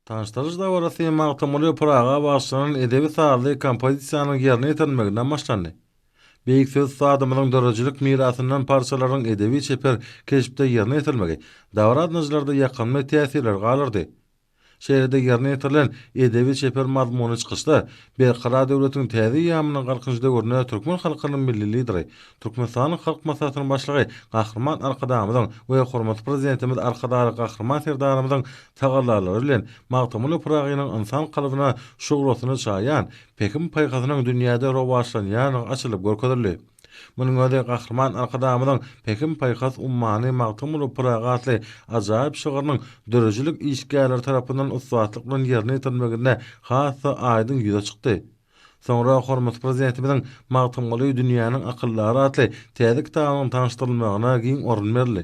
Tanyşdyryş dabarasy Magtymguly Pyraga bagyşlanan edebi-sazly kompozisiýanyň ýerine ýetirilmeginden başlandy. Beýik söz ussatymyzyň döredijilik mirasyndan parçalaryň edebi-çeper keşpde ýerine ýetirilmegi dabara gatnaşyjylarda ýakymly täsirleri galdyrdy. Şeýle-de ýerine ýetirilen edebi-çeper mazmunly çykyşlar Berkarar döwletiň täze eýýamynyň Galkynyş döwründe türkmen halkynyň Milli Lideri, Türkmenistanyň Halk Maslahatynyň Başlygy Gahryman Arkadagymyzyň we hormatly Prezidentimiz Arkadagly Gahryman Serdarymyzyň tagallalary bilen Magtymguly Pyragynyň ynsan kalbyna şuglasyny çaýan pähim-paýhasynyň dünýäde rowaçlanýandygy açylyp görkezildi. Munuň özi Gahryman Arkadagymyzyň Pähim-paýhas ummany Magtymguly Pyragy atly ajaýyp şygrynyň döredijilik işgärleri tarapyndan ussatlyk bilen ýerine ýetirilmeginde has-da aýdyň ýüze çykdy. Soňra hormatly Prezidentimiziň Magtymguly dünýäniň akyldary atly täze kitabynyň tanyşdyrylmagyna giň orun berildi.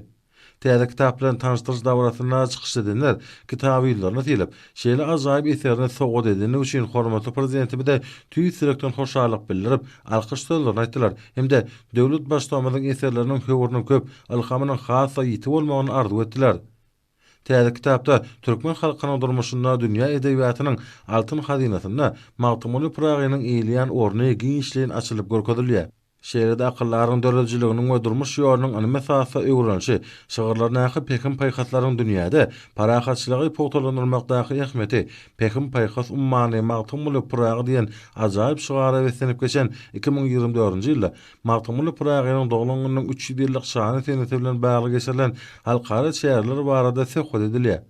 Täze kitap bilen tanyşdyryş dabarasynda çykyş edenler kitaby ýüzlerine sylyp, şeýle ajaýyp eserini sowgat edendigi üçin hormatly Prezidentimize tüýs ýürekden hoşallyk bildirip, alkyş sözlerini aýtdylar hem-de döwlet Baştutanymyzyň eserleriniň höwrüniň köp, ylhamynyň has-da ýiti bolmagyny arzuw etdiler. Täze kitapda türkmen halkynyň durmuşynda, dünýä edebiýatynyň altyn hazynasynda Magtymguly Pyragynyň eýleýän orny giňişleýin açylyp görkezilýär. Şeýle-de akyldaryň döredijiliginiň we durmuş ýolunyň ylmy esasda öwrenilişi, şygyrlaryndaky pähim-paýhaslaryň dünýäde parahatçylygy pugtalandyrmakdaky ähmiýeti, Pähim-paýhas ummany Magtymguly Pyragy diýen ajaýyp şygara beslenip geçen iki müň ýigrimi dördünji ýylda Magtymguly Pyragynyň doglan gününiň üç ýüz ýyllyk şanly senesi bilen bagly geçirilen halkara çäreler barada söhbet edilýär.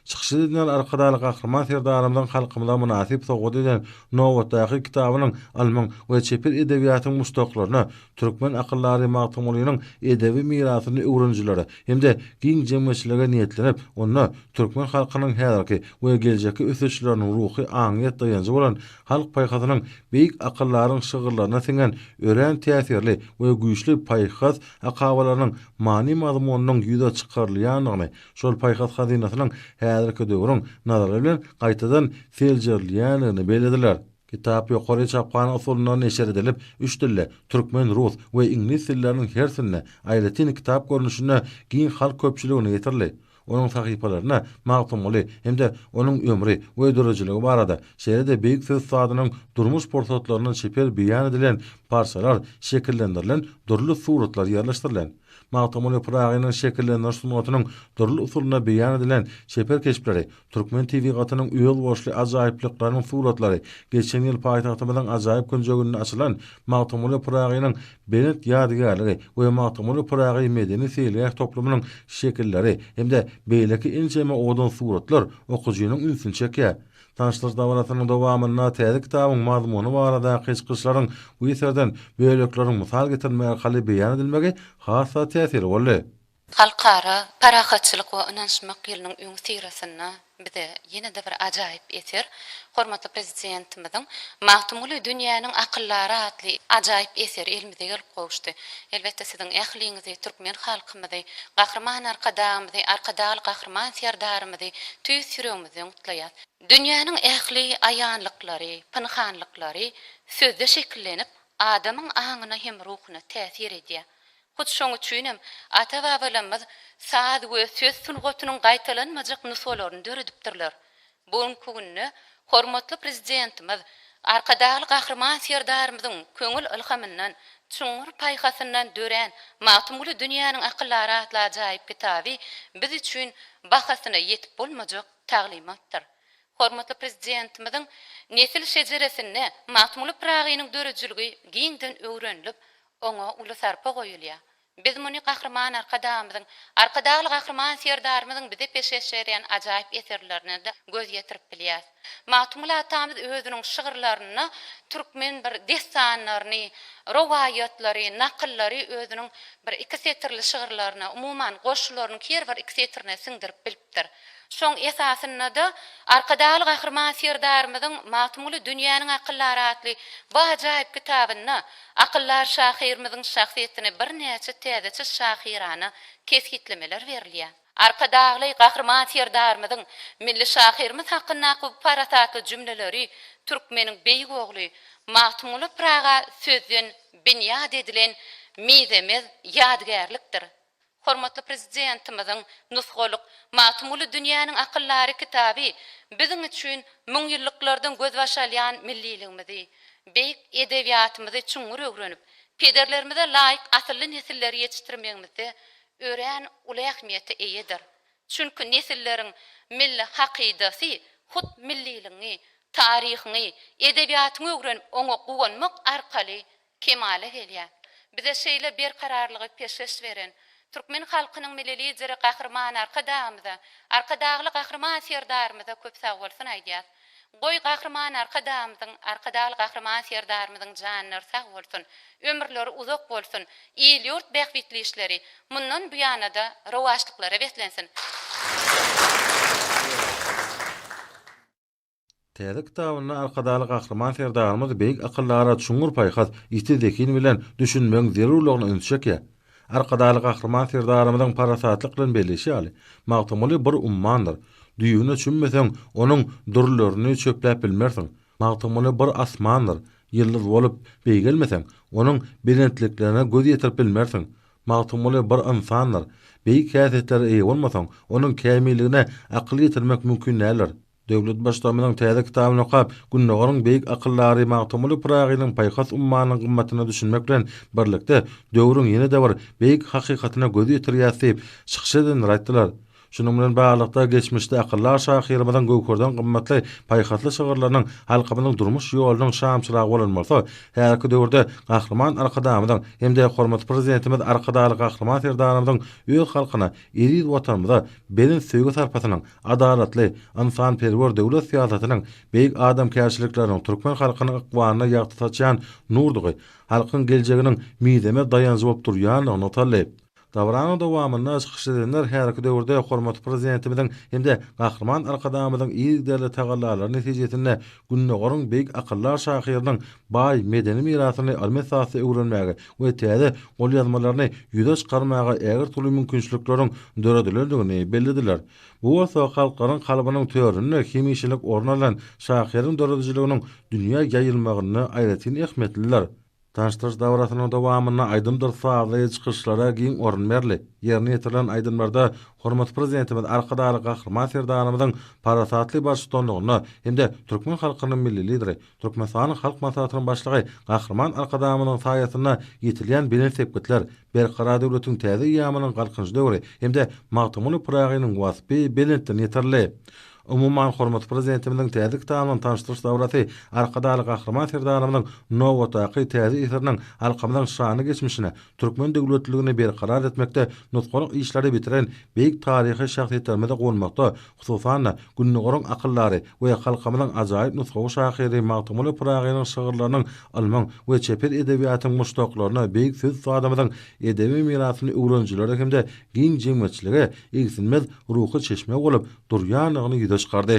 Çykyşda Dinar Arkadagly Gahryman Serdarymyzyň halkymyza mynasyp sowgat eden nobatdaky kitabynyň ylmyň we çeper edebiýatyň muşdaklaryna, türkmen akyldary Magtymgulynyň edebi mirasyny öwrenijilere hem-de giň jemgyýetçilige niýetlenip, onda türkmen halkynyň häzirki we geljekki ösüşleriniň ruhy aňyýet daýanjy bolan halk paýhasynyň beýik akyldaryň şygyrlaryna siňen örän täsirli we güýçli paýhas akabalarynyň many-mazmunynyň ýüze çykarylýandygyny şol paýhas hazynasynyň häzirki döwrüň nazary bilen gaýtadan seljerilýändigini bellediler. Kitap ýokary çaphana usulynda neşir edilip, üç dilde, türkmen, rus we iňlis dilleriniň hersinde, aýratyn kitap görnüşinde giň halk köpçüligine ýetirildi. Onuň sahypalarynda Magtymguly hem-de onuň ömri we döredijiligi barada, şeýle-de beýik söz ussadynyň durmuş pursatlaryndan çeper beýan edilen parçalar şekillendirilen dürli suratlar ýerleşdirilen. Magtymguly Pyragynyň şekillendiriş sungatynyň dürli usulynda beýan edilen çeper keşpleri, türkmen tebigatynyň özboluşly ajaýyplyklarynyň suratlary geçen ýyl paýtagtymyzyň ajaýyp künjeginde açylan Magtymguly Pyragynyň belent ýadygärligi we Magtymguly Pyragy medeni-seýilgäh toplumynyň şekilleri hem-de beýleki ençeme owadan suratlar okyjynyň ünsüni çekýär. Tanyşlyk dabarasynyň dowamynda täze kitabyň mazmuny baradaky çykyşlaryň bu eserden bölekleriň mysal getirilmegi arkaly beýan edilmegi has-da täsirli boldy. Halkara parahatçylyk we ynanyşmak ýylynyň öňüsyrasynda bize ýene-de bir ajaýyp eser, hormatly Prezidentimiziň Magtymguly dünýäniň akyldary atly ajaýyp eseri elimize gelip gowuşdy. Elbetde, siziň ähliňizi, türkmen halkymyzy, Gahryman Arkadagymyzy, Arkadagly Gahryman Serdarymyzy tüýs ýüregimizden, gutlaýar. Dünýäniň ähli aýanlyklary, pynhanlyklary sözde şekillenip, adamyň aňyna hem ruhuna täsir edýär. Hut şoň üçinem ata-babalarymyz saz we söz sungatynyň gaýtalanmajak nusgalaryny döredipdirler. Bu günki günde hormatly Prezidentimiz Arkadagly Gahryman Serdarymyzyň köňül ylhamyndan, çuňňur paýhasyndan dörän Magtymguly dünýäniň akyldary atly ajaýyp kitaby biz üçin bahasyna ýetip bolmajak taglymatdyr. Hormatly Prezidentimiziň nesil şejeresinde Magtymguly Pyragynyň döredijiligi giňden öwrenilip, oňa uly sarpa goýulýar. Biz muny Gahryman Arkadagymyzyň, Arkadagly Gahryman Serdarymyzyň bize peşgeş berýän ajaýyp eserlerine-de göz ýetirip bilýäs. Magtymguly atamyz özüniň şygyrlarynda türkmen bir dessanlaryny, rowaýatlary, nakyllary özüniň bir iki setirli şygyrlaryna, umuman, goşgularynyň her bir iki setirine siňdirip bilipdir. beripdir. Şoň esasynda-da Arkadagly Gahryman Serdarymyzyň Magtymguly dünýäniň akyllary atly bu ajaýyp kitabynda akyldar şahyrymyzyň şahsyýetini birnäçe täzeçe şahyrana kesgitlemeler berilýär. Arkadagly Gahryman Serdarymyzyň milli şahyrymyz hakyndaky bu parasatly jümleleri türkmeniň beýik ogly Magtymguly Pyraga sözden binýat edilen mizemez ýadygärlikdir. Hormatly Prezidentimiziň nusgalyk Magtymguly dünýäniň akyldary kitaby biziň üçin müňýyllyklardan gözbaş alýan milliligimizi, beýik edebiýatymyzy çuňňur öwrenip, pederlerimize laýyk asylly nesilleri ýetişdirmegimizde örän uly ähmiýete eýedir. Çünki nesilleriň milli hakydasy hut milliligiňi, taryhyňy, edebiýatyňy öwrenip, oňa guwanmak arkaly kemala gelýär. Bize şeýle berkararlygy peşgeş beren türkmen halkynyň Milli Lideri Gahryman Arkadagymyza, Arkadagly Gahryman Serdarymyza köp sagbolsun aýdýas. Goý, Gahryman Arkadagymyzyň, Arkadagly Gahryman Serdarymyzyň janlary sag bolsun, ömürleri uzak bolsun, il-ýurt bähbitli işleri mundan buýana-da rowaçlyklara beslensin! Täze kitabynda Arkadagly Gahryman Serdarymyz beýik akyldara çuňňur paýhas, ýiti zehin bilen düşünmegiň zerurlygyna üns çekýär. Arkadagly Gahryman Serdarymyzyň parasatlyk bilen belleýşi ýaly, Magtymguly bir ummandyr. Düýbüne çümmeseň, onuň dürlerini çöpläp bilmersiň. Magtymguly bir asmandyr. Ýyldyz bolup beýgelmeseň, onuň belentliklerine göz ýetirip bilmersiň. Magtymguly bir ynsandyr. Beýik häsiýetlere eýe bolmasaň, onuň kämilligine akyl ýetirmek mümkin däldir. Döwlet Baştutanymyzyň täze kitabyny okap, Gündogaryň beýik akyldary Magtymguly Pyragynyň paýhas ummanynyň gymmatyna düşünmek bilen birlikde, döwrüň ýene-de bir beýik hakykatyna göz ýetirýäris diýip, çykyş edenler aýtdylar. Şunuň bilen baglylykda, geçmişde akyldar şahyrymyzyň göwherden gymmatly paýhasly şygyrlarynyň halkymyzyň durmuş ýolunyň şamçyragy bolan bolsa, häzirki döwürde Gahryman Arkadagymyzyň hem-de hormatly Prezidentimiz Arkadagly Gahryman Serdarymyzyň öz halkyna, eziz Watanymyza belent söýgi-sarpasynyň, adalatly, ynsanperwer döwlet syýasatynyň, beýik adamkärçilikleriniň türkmen halkynyň ykbalyna ýagty saçýan nurdugy, halkyň geljeginiň mizemez daýanjy bolup durýandygy nygtaldy. Dabaranyň dowamynda çykyş edenler häzirki döwürde hormatly Prezidentimiziň hem-de Gahryman Arkadagymyzyň yzygiderli tagallalary netijesinde Gündogaryň beýik akyldar şahyrynyň baý medeni mirasyny ylmy esasda öwrenmäge we täze golýazmalaryny ýüze çykarmaga ägirt uly mümkinçilikleriň döredilendigini bellediler. Bu bolsa halklaryň kalbynyň töründe hemişelik orun alan şahyryň döredijiliginiň dünýä ýaýylmagynda aýratyn ähmiýetlidir. Tanyşdyryş dabarasynyň dowamynda aýdymdyr sazly çykyşlara giň orun berli. Ýerine ýetirilen aýdymlarda hormatly Prezidentimiz Arkadagly Gahryman Serdarymyzyň parasatly baştutanlygynda hem-de türkmen halkynyň Milli Lideri, Türkmenistanyň Halk Maslahatynyň Başlygy Gahryman Arkadagymyzyň saýasynda ýetilýän belent sepgitler, Berkarar döwletiň täze eýýamynyň Galkynyş döwri hem-de Magtymguly Pyragynyň waspy belentden ýetirildi. Umuman, hormatly Prezidentimiziň täze kitaby bilen tanyşdyryş dabarasy Arkadagly Gahryman Serdarymyzyň nobatdaky täze eseriniň halkymyzyň şanly geçmişine, türkmen döwletliligini berkarar etmekde nusgalyk işleri bitiren beýik taryhy şahsyýetlerimize gonmakda, hususan-da, Gündogaryň akyldary we halkymyzyň ajaýyp nusgawy şahyry Magtymguly Pyragynyň şygyrlarynyň ylmyň we çeper edebiýatyň muşdaklaryna, beýik söz ussatymyzyň edebi mirasyny öwrenijilere hem-de giň jemgyýetçilige igsilmez ruhy çeşme bolup durýandygyny ýüze çykardy.